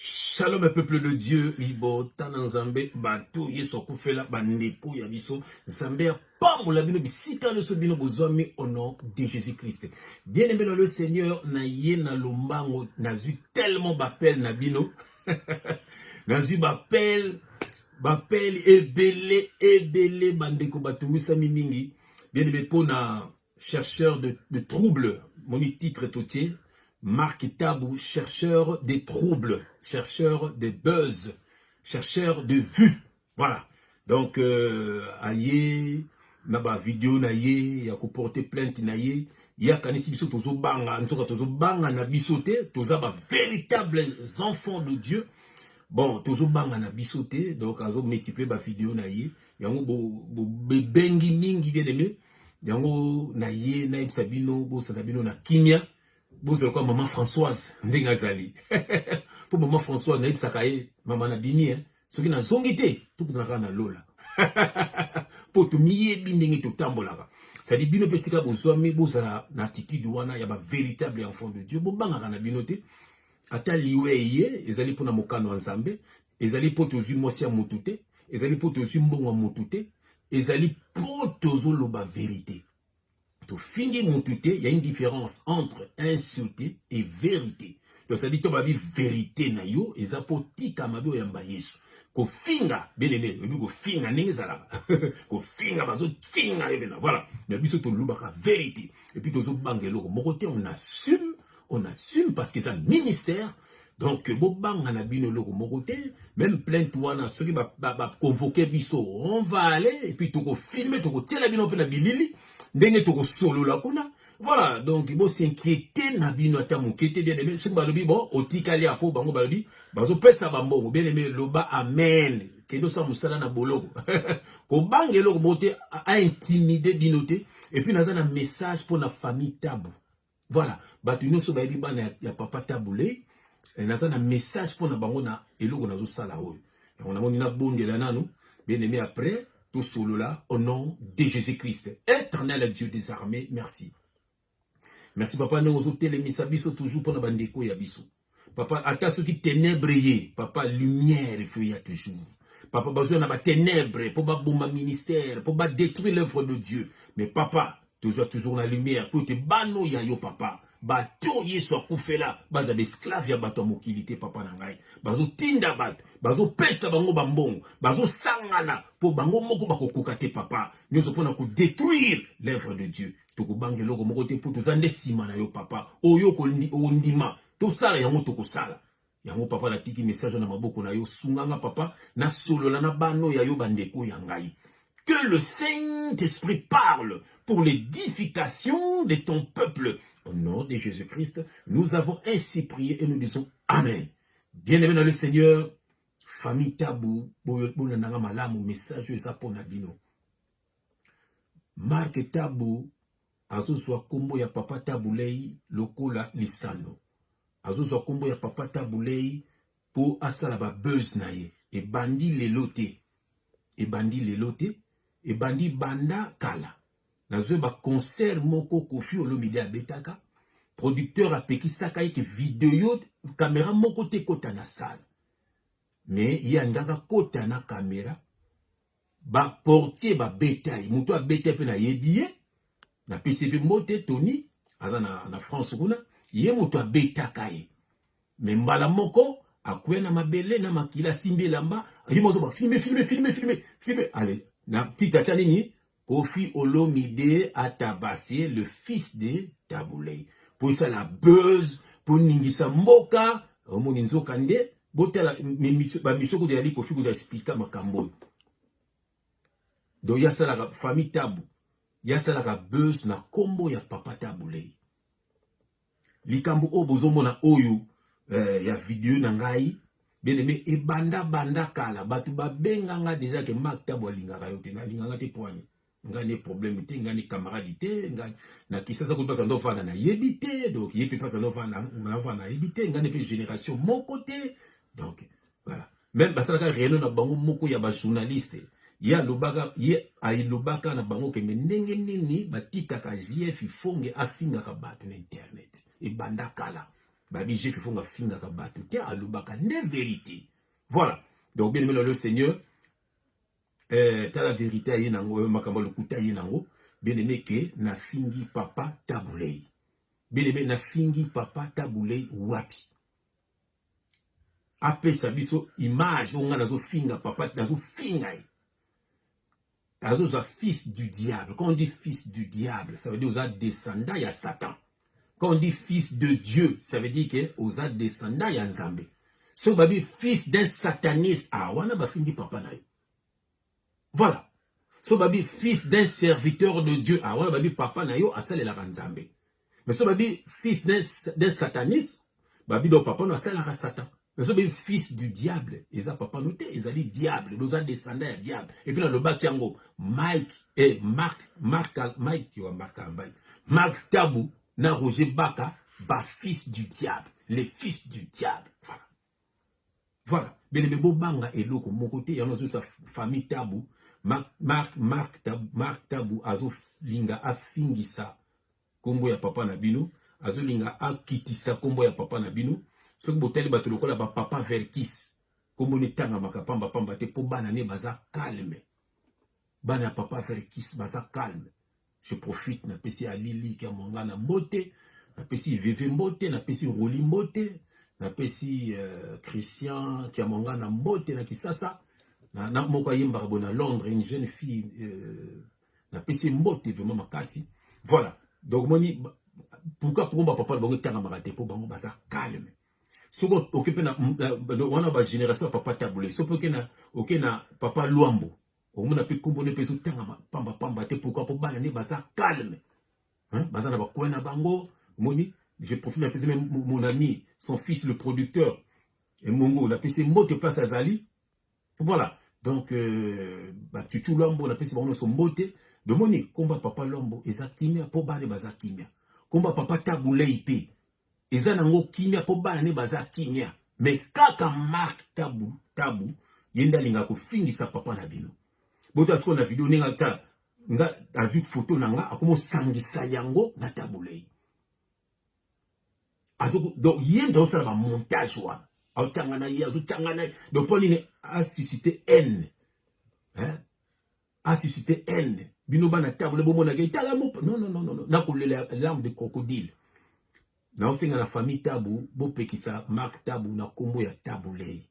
Shalom peuple de Dieu, libota na Nzambe, bato Yesu akufela bandeko ya biso, Nzambe ya pambola bino bisika nyonso bino bozwami au nom de Jésus Christ. Bien aimé dans le Seigneur, na ye na lombango, nazwi tellement bapel na bino. nazwi bapel, bapel ebele ebele bandeko batungisami mingi. Bien aimé pona chercheur de, de trouble moni titre totie mark tabu chercheur des troubles chercheur des buzz chercheur de vue voilà donc euh, aye na bavideo na ye ya koporte plainte na ye ye akanisi biso tozobanga nzoka tozobanga na biso te toza bavéritable enfants de dieu bon tozobanga na biso te donc azomultiplie bavideo na ye yango bobengi bo, bo mingi bien aime yango na ye nayebisa bino bosana bino na kimia bozala kwa mama françoise ndenge azali mpo mama françoise nayebisaka ye mama na bimi eh? soki nazongi te tokutana kaka na lola mpo tomiyebi ndenge totambolaka sadi bino mpe esika bozwami bozala na attitude wana ya bavéritable enfant de dieu bobangaka na bino te ata liwa eye ezali mpo na mokano ya nzambe ezali mpo tozwi mwasi ya motu te ezali mpo tozwi mbongo ya motu te ezali mpo tozoloba verite tofingi motu te ya une différence entre insulte et verite tozali to babi verite na yo eza mpo tika mabe oyamba yesu kofinga belele oyebi kofinga ndenge ezalaka kofinga bazofinga yo mpena voilà na biso tolobaka verite epuis tozobanga eloko moko te on assume on assume parce que eza ministère donc bobanga na bino eloko moko te même plainte wana soki baconvoke ba, ba biso on va aller et puis tokofilme tokotiela bino mpe na bilili ndenge tokosolola kuna voilà donc bosinquiete na bino ata moke te bien aime soki balobi bon otikali ya mpo bango balobi bazopesa bambongo bien aime loba amen kende osala mosala na boloko kobanga eloko moko te aintimide bino te epuis naza na message mpo na famille tabu Voilà, bato nyonso bayebi bana ya, ya papa Tabule eh, naza na message mpo na bango na eloko nazosala oyo yango namoni nabondela nanu bien aimé après tosolola au nom de Jésus Christ éternel Dieu des armées merci merci papa ndenge ozotelemisa biso toujours mpo na bandeko ya biso papa ata soki tenebre ye papa lumière faut ya toujours papa bazwa na batenebre mpo baboma ministère mpo badétruire l'œuvre de dieu mais papa tozwa toujours na lumière mpo ete bano ya yo papa bato yesu akufela baza baesklave ya bato ya mokili te papa na ngai bazotinda bato bazopesa bango bambongo bazosangana mpo bango moko bakokoka te papa nyonso mpo na kodétruire l'œuvre de dieu tokobanga eloko moko te mpo toza nde nsima na yo papa oyo ondima tosala yango tokosala yango papa natiki message na maboko na yo sunganga papa nasolola na bano ya yo bandeko ya ngai que le Saint-Esprit parle pour l'édification de ton peuple. Au nom de Jésus-Christ, nous avons ainsi prié et nous disons Amen. Bien-aimé dans le Seigneur, famille Tabou, Boyotbou Nananga Malamu, message Zapona Bino. Marc Tabu azozwa nkombo ya Papa Tabu Ley lokola lisano, azozwa nkombo ya Papa Tabu Ley mpo asala ba buzz na ye. Ebandi lelo te, ebandi lelo te, ebandi banda kala. Nazwe ba concert moko Koffi Olomide abetaka, producteur apekisaka ye ke video kamera moko te ekota na salle, mais ye alingaka kota na kamera ba portier babeta ye moto abeta mpe nayebi ye napesi mpe mbote tony aza na, na france kuna ye moto abetaka ye me mbala moko akuya na mabele na makila asimbi elamba ayima azoba filme filme filme filme filme ale na titre atya nini kofi olomide atabase le fils de tabulei mpo esala buzz mpo ningisa mboka omoni nzoka nde botala ba mission kutu yali kofi kutu expliquer makambo oyo donc yasalaka famille tabu yasalaka buzz na kombo ya papa tabu lei likambo oyo bozomona oyo eh, ya video na ngai beleme ebanda banda kala bato babenganga deja ke mak tabu alingaka yo te nalingaka te poani ngai ne problème te ngai ne camarade te ngai na kisasa kutu mpasa ndofanda nayebi te donc ye mpe mpasa ndofanda nayebi te ngai ne mpe génération moko te donc voilà meme basalaka réunion na bango moko ya bajournaliste ye alobaka ye alobaka na bango kende ndenge nini batikaka jf ifonge afingaka bato na internet ebanda kala babi jf ifonge afingaka bato te alobaka nde verité voilà donc bien aimé le seigneur eh, tala verite aye nango eh, makambo ya lokuta aye nango bien-aimé ke nafingi papa tabulei bien-aimé nafingi papa tabulei wapi apesa biso image oyo ngai nazofinga papa nazofinga ye azoza fils du diable quand on dit fils du diable ça veut dire oza descendant ya satan Quand on dit fils de Dieu, ça veut dire que oza descendant ya Nzambe. Ce babi fils d'un sataniste, ah wana ba fingi papa na Voilà. Ce babi fils d'un serviteur de Dieu, ah wana babi papa na yo asalela Nzambe. Mais ce babi fils d'un sataniste, babi donc papa no asalaka satan nazo be fils du diable eza papa no te ezali diable loza descendant ya diable et puis nalobaki yango mike eh, mark mark mike wa mark ambai mark tabu na roger baka ba fils du diable les fils du diable voilà voilà belebe bobanga eloko moko te yango azosa famille tabu mark mark mark tabu, mark tabu azolinga afingisa kombo ya papa na bino azolinga akitisa kombo ya papa na bino soki botali bato lokola ba papa verkis kombo netangamaka pamba pamba te mpo bana ne baza calme bana ya papa verkis baza calme je profite napesi alili kamwanga na mbote napesi veve mbote napesi roli mbote napesi uh, christian kiamwanga na mbote na kisasa na, na moko ayembaka bo na londres une jeune fille uh, na pesi mbote vraiment makasi voilà donc moni pourquoi pour ba papa bango tanga makate pour bango baza calme soko oke pe na wana ba génération papa tabule soko oke na oke na papa luambo omona pe kombo ne peso tanga pamba pamba te pourquoi pour bana ne baza calme hein baza na ba coin na bango moni je profite na pesi mon ami son fils le producteur et mongo na pesi mbote place azali Voilà. Donc, euh, bah, tu tu l'ambo, la peste, on son beauté. De mon combat papa l'ambo, et zakimia, pour bane baza kimia. Combat papa tabouleite. Et zanango kimia, pour bane baza kimia. Mais kaka marque tabou, tabou, yenda linga ko fingi sa papa na bino. Boto asko na vidéo nenga ta, nga, azuk photo na nga, akomo sangi sa yango na tabouleite. azo donc ye nde osala ba montage wana aotanga na ye azotanga na ye donc mpo nini asuscite haine hein asuscite haine bino bana table bomonaka etala mo non non non non nakolela larme de crocodile naosenga na famille tabu bopekisa mark tabu na nkombo ya tabu lei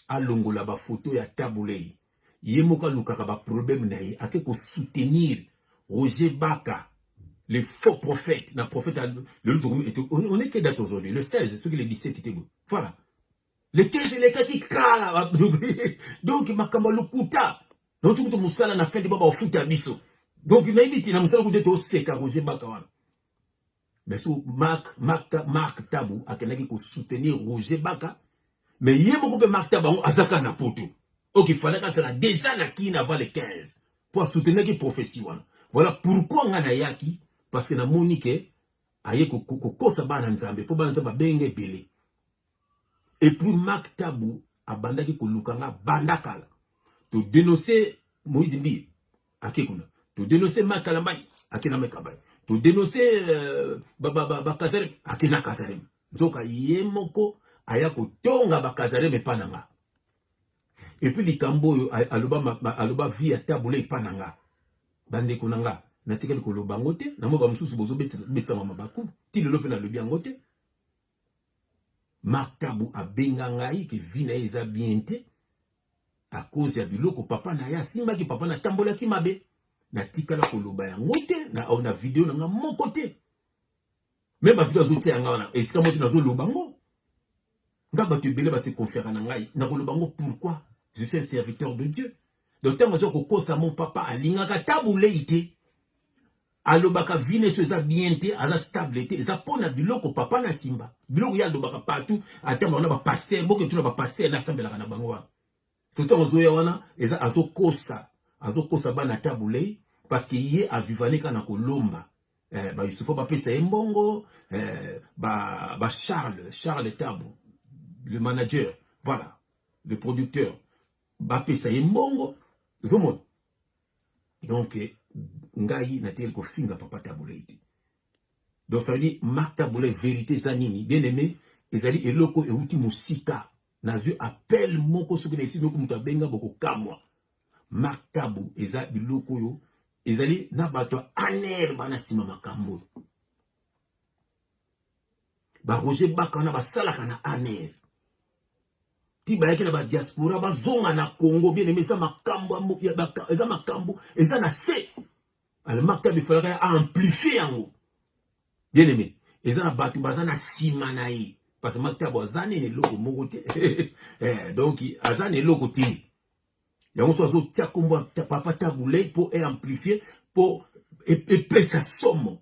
alongola ba photo ya tabulei ye moko alukaka ba problème na ye ake ko soutenir Roger Baka le faux prophète na prophète lelo tokomi on est que date aujourd'hui le 16 soki le 17 te boye voilà le 15 elekaki kala donc makambo ya lokuta nauti kutu mosala na fin te ba bafuta biso donc nayebi te na mosala kutu ete oseka Roger Baka wana mais so Marc Marc Marc Tabu akendaki ko soutenir Roger Baka mais ye moko pe Marc Tabu azaka na poto ok fallait ka sala déjà na kin avant le 15 pour soutenir ki prophétie wana voilà pourquoi nga na yaki parce que na moni que aye ko kosa bana nzambe po bana nzambe benge belé et puis Marc Tabu abandaki koluka nga banda kala to denoncer Moïse Mbiye ake kuna to denoncer Marc Kalambay ake na Mekabay to denoncer euh, ba ba ba, ba Kazarem ake na Kazarem nzoka ye moko aya kotonga ba Kazarem epa na nga et puis likambo oyo aloba ma, ma, aloba vie ya Tabu le epa na nga bandeko na nga natikali koloba yango te na mwa bamosusu bozobetama mabaku ti lelo mpe nalobi yango te Marc Tabu abenga ngai ke vie na ye eza bien te à cause ya biloko papa na ye asimbaki papa na tambolaki mabe natikala koloba yango te na, na video na nga moko te me bavideo azotia yanga wana esika moko te nazoloba yango nga bato ebele base konfera na ngai nakoloba yango pourquoi je suis un serviteur de dieu donc ntango aza kokosa mon papa alingaka tabulei te alobaka vie neso eza bien te aza stable te eza mpo na biloko papa na simba biloko ye alobaka partout ata bango na bapaster boke tuna bapaster nasambelaka na bango wana soto azoya wana eza azokosa azokosa bana tabulei parce que ye avivaneka na kolomba eh, bayusufa bapesa ye mbongo eh, ba, ba charles charles tabu le manager voilà le producteur bapesa ye mbongo ozomona Donc ngai nateli kofinga papa Tabolei te. Donc ça veut dire Marc Tabolei verite eza nini? Bien aimé, ezali eloko euti mosika. Nazwi appel moko soki na esi moko moto abenga bokokamwa. Marc Tabu eza biloko oyo ezali na bato ya aner bana nsima makambo oyo. ba Roger Baka wana basalaka na ANR ti bayaki na badiaspora bazonga na congo bien aime eza makambo eza makambo eza na se almakta bifalaka ya amplifie yango bien aime eza na bato baza na nsima na ye parce que maktabo aza nini eloko moko te eh, donc aza na eloko te yango so azotia nkombo papa tabulei mpo eamplifie mpo epesa somo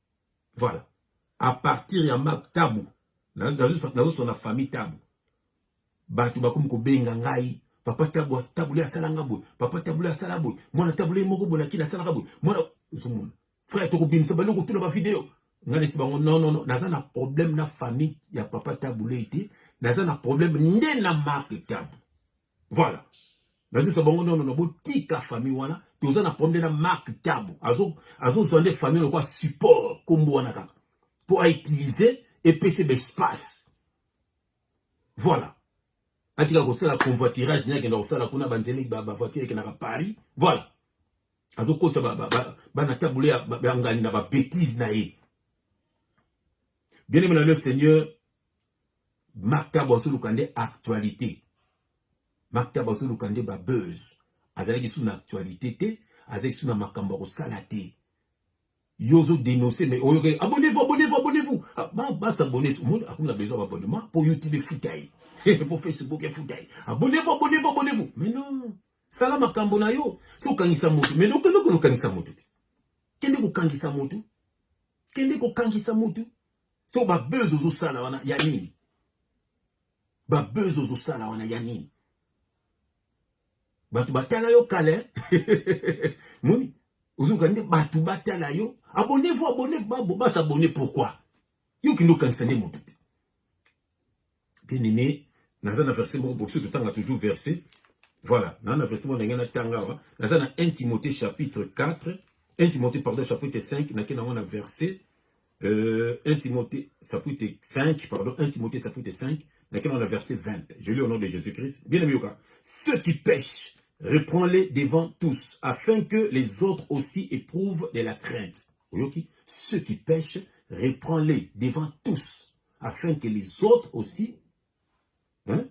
Voilà. À partir ya Marc Tabu, nazosona famille Tabu. Bato bakomi kobenga ngai papa Tabu tabule asala nga boye papa tabule asala boye mwana tabule moko boye nakini asalaka boye mwana ozomona frère tokobimisa bani kotuna bavideo ngai nesi bango nonono naza na problème na famille ya papa tabule te naza na problème nde na marque Tabu Voilà. nazwisa bango nono na botika famille wana toza na problème na mark tabo azozwa nde famille lokola support nkombo wana kaka mpo autilize epesi baespace voilà atika kosala convoitirage nde akenda kosala kuna banzeli bavoiture ekendaka paris voilà azokotisa bana tabule ya ngani na babétise na ye bien aimé na le seigneur Makta bazoluka nde actualité. Makta bazoluka nde ba buzz. Azalaki sous na actualité te, azalaki sous na makambo ya kosala te. Yo ozo dénoncer mais oyoka abonnez-vous, abonnez-vous, abonnez-vous. Ah, ba ba s'abonner, monde akuna besoin d'abonnement pour YouTube efuta ye. pour Facebook efuta ye. Abonnez-vous, abonnez-vous, abonnez-vous. Mais non. Sala makambo na yo. So okangisa moto, mais loko loko okangisa moto te. Kende kokangisa moto. Kende kokangisa moto. So ba buzz ozo sala wana ya nini? Ba buzz ozo sala wana ya nini? Batu batala yo kale. Moni, ozo kande batu batala yo. Abonnez-vous, abonnez-vous, ba s'abonner pourquoi? Yo kindo kanisa nde moto te. Bien-aimé, naza na verset moko bokiso totanga toujours verset. Voilà, naza na verset moko ndenge natanga awa. Naza na 1 Timothée chapitre 4, 1 Timothée pardon chapitre 5, nake nango na verset euh, 1 Timothée chapitre 5, pardon, 1 Timothée chapitre 5, nake nango na verset 20. Je lis au nom de Jésus-Christ. Bien-aimé yoka, ceux qui pêchent, reprends-les devant tous, afin que les autres aussi éprouvent de la crainte. Oyoki, ceux qui pêchent, reprends-les devant tous afin que les autres aussi, hein,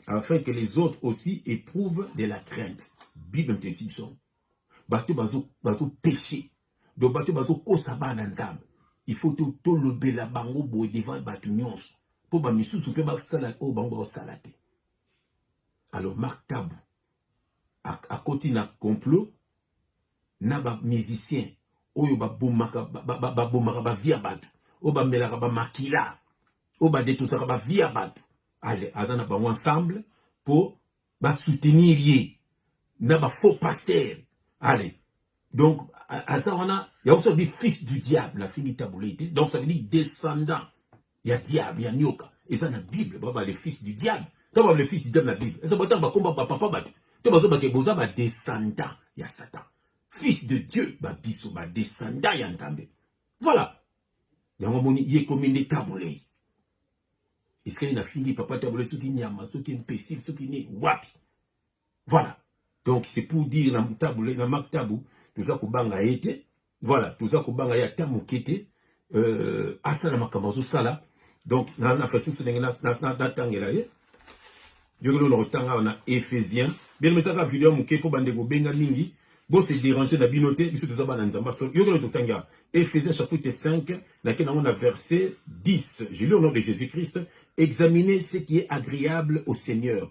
afin que les autres aussi éprouvent de la crainte. Bible mpesi biso. Bato bazo bazo péché. Donc bato bazo kosa bana nzambe. Il faut to to lobela bango boye devant bato nyonso. Po ba misusu pe ba sala o bango ba sala te. Alors Marc Tabu akoti na complot na ba musicien oyo babomaka babomaka ba vie ya bato oyo bamelaka bamakila oyo badetosaka ba vie ya bato ale aza na bango ensemble mpo basoutenir ye na ba faux pasteur ale donc aza wana yaoso bi fils du diable afingi tabule te donc ça veut dire descendant ya diable ya nioka eza na bible baba le fils du diable to baba le fils du diable na bible eza botanga bakomba bapapa bato to bazobake boza badescendant ya satan fils de dieu babiso badescendant ya nzambe voilà yango amoni ye ekomi nde tabolei esikali nafingi papa tabolei soki nyama soki impesile soki nini wapi voilà donc c'est pour dire na tabu na mak tabu toza kobanga ye te Voilà, toza kobanga ye ata moke te euh, asala makambo azosala donc na, na façon so ndenge natangela ye yokelo na kotanga na ephésien bien mesaka video moke mpo bandeko benga mingi bose dérange na bino te biso toza bana nzambe so yokelo totanga ephésien chapitre 5 nake nango na verset 10 je lis au nom de jésus christ examiner ce qui est agréable au seigneur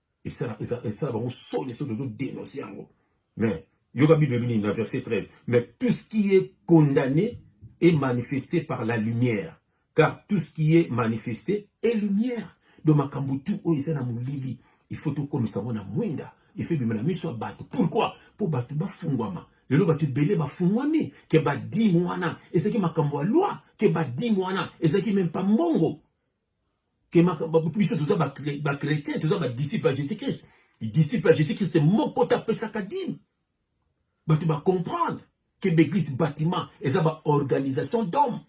esala esala esala bango soni soki ozo denoncer yango mais yoka bible elobi nini na verset 13 mais tout ce qui est condamné est manifesté par la lumière car tout ce qui est manifesté est lumière donc makambo tu oyo eza na molili il faut tokomisa yango na mwinda efe ebima na miso ya bato pourkui mpo bato bafungwama lelo bato ebele bafungwami ke badime wana ezalaki makambo ya lwa ke badime wana ezalaki meme mpa mbongo que biso toza bachrétien toza badisciple ya jésus christ disciple ya jésus christ moko te apesaka dime bato bacomprendre que baeglise bâtiment eza baorganisation d'homme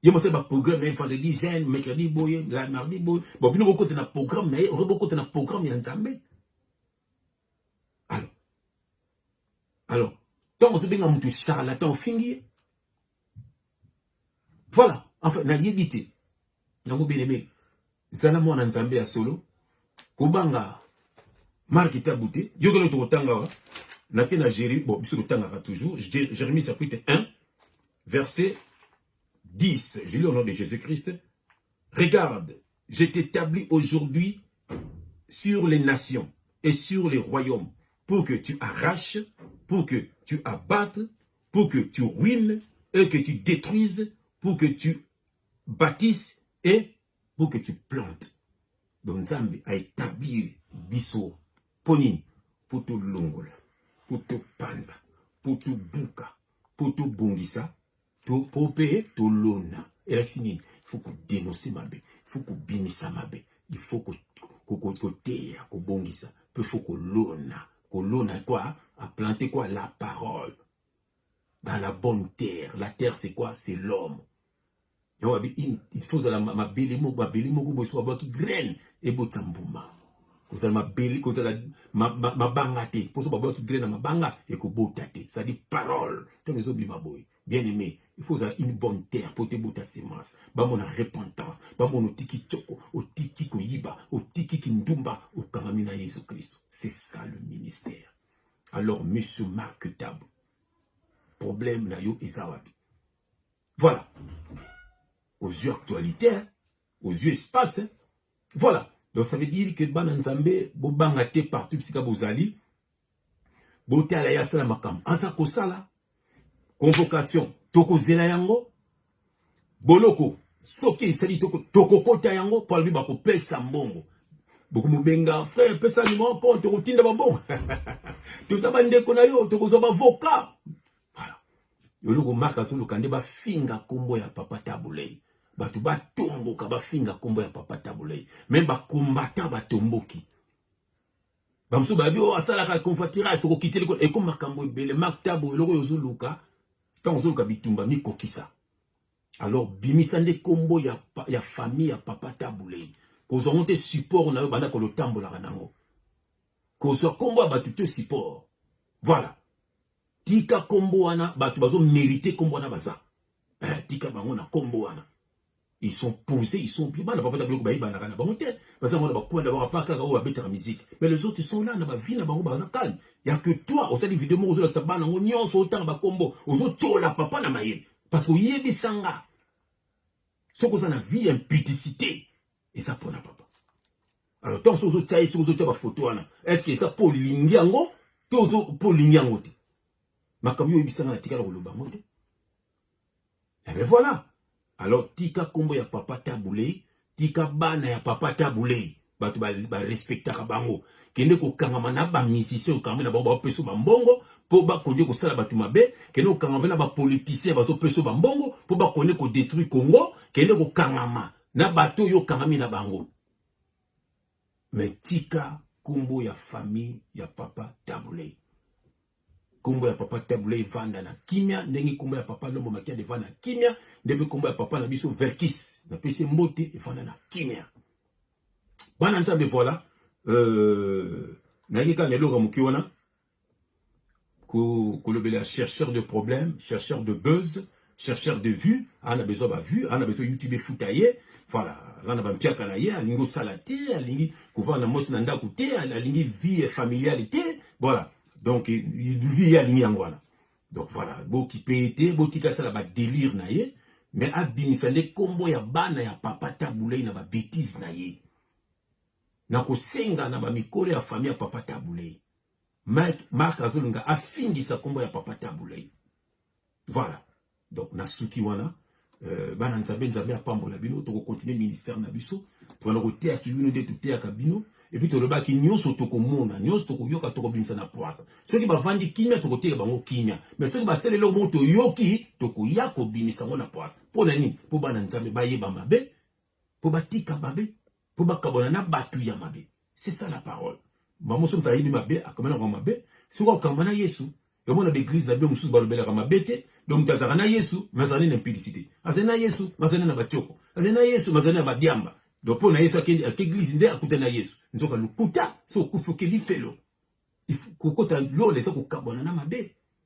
ye mosali baprogramme na ye vendredi jeune mercredi boye la mardi boye bon bino bokota na programme na ye oke bokota na programme ya nzambe alors alors ntango ozobenga moto charlatan ofingi ye Voilà, enfin nayebi te. Yango bien aimé, zala mwana Nzambe ya solo, kobanga marque tabu te. Yokelo tokotanga wa na ke na Jérémie, bon biso totangaka toujours, Jérémie chapitre 1 verset 10. Je lis au nom de Jésus-Christ. Regarde, je t'établis aujourd'hui sur les nations et sur les royaumes pour que tu arraches, pour que tu abattes pour que tu ruines et que tu détruises, pour que tu bâtisses et pour que tu plantes. Donc Nzambe a établi biso mpo nini mpo tolongola mpo topanza mpo tobuka mpo tobongisa mpo mpe tolona elakisi nini faut kodenonse mabe faut kobimisa mabe il faut koteya kobongisa mpe faut kolona kolona quoi a planter quoi la parole dans la bonne terre la terre c'est quoi c'est l'homme yango abi il faut ozala mabele moko mabele moko boye soki abwaki graine ebota mbuma kozala mabele kozala mabanga te mpo soki babwaki graine na mabanga ekobota te cestadi parole ntango ezobima boye bien aimé il faut ozala une bonne terre mpo te bota semence bamona repentance bamona otiki toko otiki koyiba otiki kindumba okangami na yesu kristo c'est ça le ministère alors monsieur marc tabo problème na yo eza wapi voilà aux yeux actualité hein? aux yeux espace hein? voilà donc ça veut dire que bana nzambe bobanga te partout bisika bozali botala ye asala makambo aza kosala convocation tokozela yango boloko soki esali tokokota yango mpo alobi bakopesa mbongo bokomobenga frère pesa nimero mpo tokotinda bambongo toza bandeko na yo tokozwa bavoka voilà yoloko mark azoluka nde bafinga nkombo ya papa tabulei bato batomboka bafinga nkombo ya papa tabulei meme bakombata batomboki bamosusu bayebi oyo oh, asalaka convoitirage tokokiteli ko eko makambo ebele makta boye eloko oyo ozoluka ntango ozoluka bitumba mikokisa alors bimisa nde nkombo ya, ya famille ya papa tabulei kozwa ngo te support na yo banda kolotambolaka nango kozwa nkombo ya bato te support voilà tika nkombo wana bato bazomerite nkombo wana baza eh, tika bango na nkombo wana ils sont posés, ils sont bien. Bana papa tablo ba ibana kana bango te. Baza mona bakwenda ba papa kaka oba betaka musique. Mais les autres sont là na ba vie na bango baza calme. Ya que toi au sali vidéo moko zola bana ngo nyonso otanga ba kombo, ozo tchola papa na mayele. Parce que yebi sanga. Soko za na vie impudicité. Et ça pona papa. Alors tant sozo tchaye sozo tcha ba photo wana. Est-ce que ça pour lingi yango? Tozo pour lingi yango te. Makambo yebi sanga na tikala ko loba ngo te. Eh bien voilà. Alors tika kombo ya papa Tabouley, tika bana ya papa Tabouley, bato ba, ba respectaka bango. Kende kokangama na ba musiciens okangami na bango bapesa ba mbongo mpo bakondi kosala bato mabe, kende kokangama na ba politiciens bazopesa ba mbongo mpo bakondi kodetruire Congo, kende kokangama na bato oyo okangami na bango. Mais tika kombo ya famille ya papa Tabuley. Kombo ya papa Tabuley vanda na kimia ndenge kombo ya papa Lombo Makiadi vanda na kimia ndenge kombo ya papa na biso Verkis na pese mbote evanda na kimia. Bana nzambe voilà euh na yeka na eloka muki wana kolobela chercheur de problème chercheur de buzz chercheur de vue ana besoin ba vue ana besoin youtube efuta ye voilà aza na bampiaka na ye alingi osala te alingi kovanda na mwasi na ndako te alingi vie familiale te voilà donc vie ye alingi yango wana donc voilà bokipe ye te botika asala badelire na ye mais abimisa nde nkombo ya bana ya papa tabulei na babetise na ye na kosenga na bamikolo ya famille ya papa tabulei Mike Mark azolinga afingisa kombo ya papa Tabuley. Voilà. Donc na suki wana euh, bana nzambe nzambe apambola bino toko continuer ministère na biso tokana koteya ki bino nde toteyaka bino epuis tolobaki nyonso tokomona nyonso tokoyoka tokobimisa na pwasa soki bavandi kimia tokoteya bango kimia me soki basala eloko moko toyoki tokoya kobimisa yango na pwasa mpo na nini mpo bana nzambe bayeba mabe mpo batika mabe mpo bakabwana na bato ya mabe c'est ça la parole mbala mosusu moto ayebi mabe akoma na koma mabe soki okamba na yesu omona baeglize na bino mosusu balobelaka mabe te donc moto azalaka na yesu me azali na impudicité azali na yesu me azali na batioko azali na yesu me azali na badiamba donc mpo na yesu akende ake eglize nde akuta na yesu nzoka lokuta so okufi okeli felo kokota lola eza kokabwana na mabe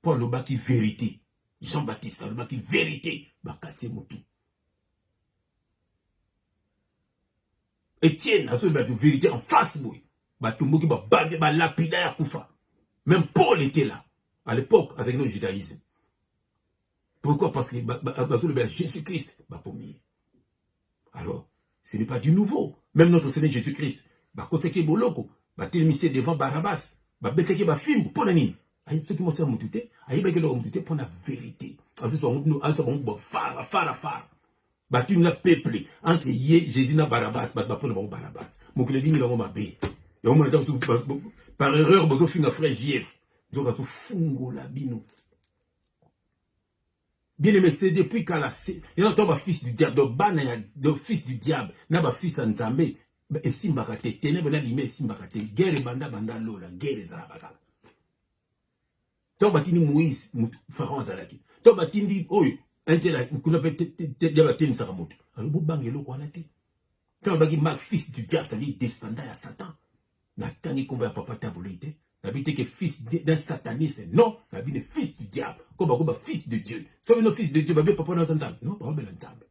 mpo alobaki verite jean baptiste alobaki verite bakati ye motu etienne azoyi bato verite en face boye batomboki babande balapida ya kufa même paul était là à l'époque azalaki no judaïsme pourquoi parce que bazolobela jésus christ bakomi ye alors ce n'est pas du nouveau même notre seigneur jésus christ bakotisaki ye boloko batelemisi ye devant barabas babetaki bafimbo mpo na nini ayebi soki mosi ya motu te ayebaki eloko motu te mpo na verité azwisa bango bafara fara fara batuni na peuple entre ye jésus na barabas bato bapona bango barabas mokili elingi bango mabe yango mona ntango mosusu par erreur bozofinga frère jf nzoka azofungola bino Bien aimé, c'est depuis kala il y a ba fils du diable, donc bana ya de fils du diable na ba fils ya Nzambe esimbaka te, ténèbres na lime esimbaka te. Guerre banda banda lola, guerre ezalaka kaka. To batindi Moïse, Pharaon azalaki. To batindi oyo intela kuna pe ya batemisaka moto. Alors bo banga eloko wana te. To baki ma fils du diable, c'est-à-dire descendant ya Satan. natangi kombo ya papa tabulei te nabi te ke fils d'un sataniste non nabi ne fils du diable ko bakoba fils de dieu so bino fils de dieu babi papa naza nzambe non baobela nzambe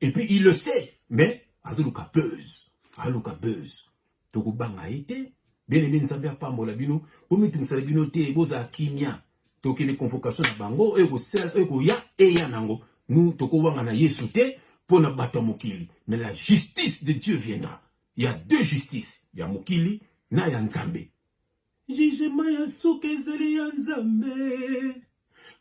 et puis il le sait mais azoluka buzz aluka buzz tokobanga ye te bien aimé nzambe apambola bino bomitungisala bino te bozala kimia tokende convocation na bango oyo ekosala oyo ekoya eya nango nu tokowangana yesu te mpo na bato ya mokili mais la justice de dieu viendra ya deux justice ya mokili na ya nzambe jugema ya suka ezali ya nzambe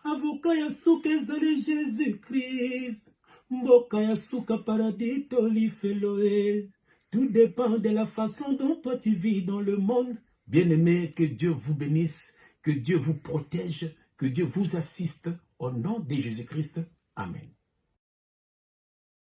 avoka ya suka ezali jesus christ mboka ya suka paradis to lifelo e tout dépend de la façon dont toi tu vis dans le monde bien aimé que dieu vous bénisse que dieu vous protège que dieu vous assiste au nom de jésus christ amen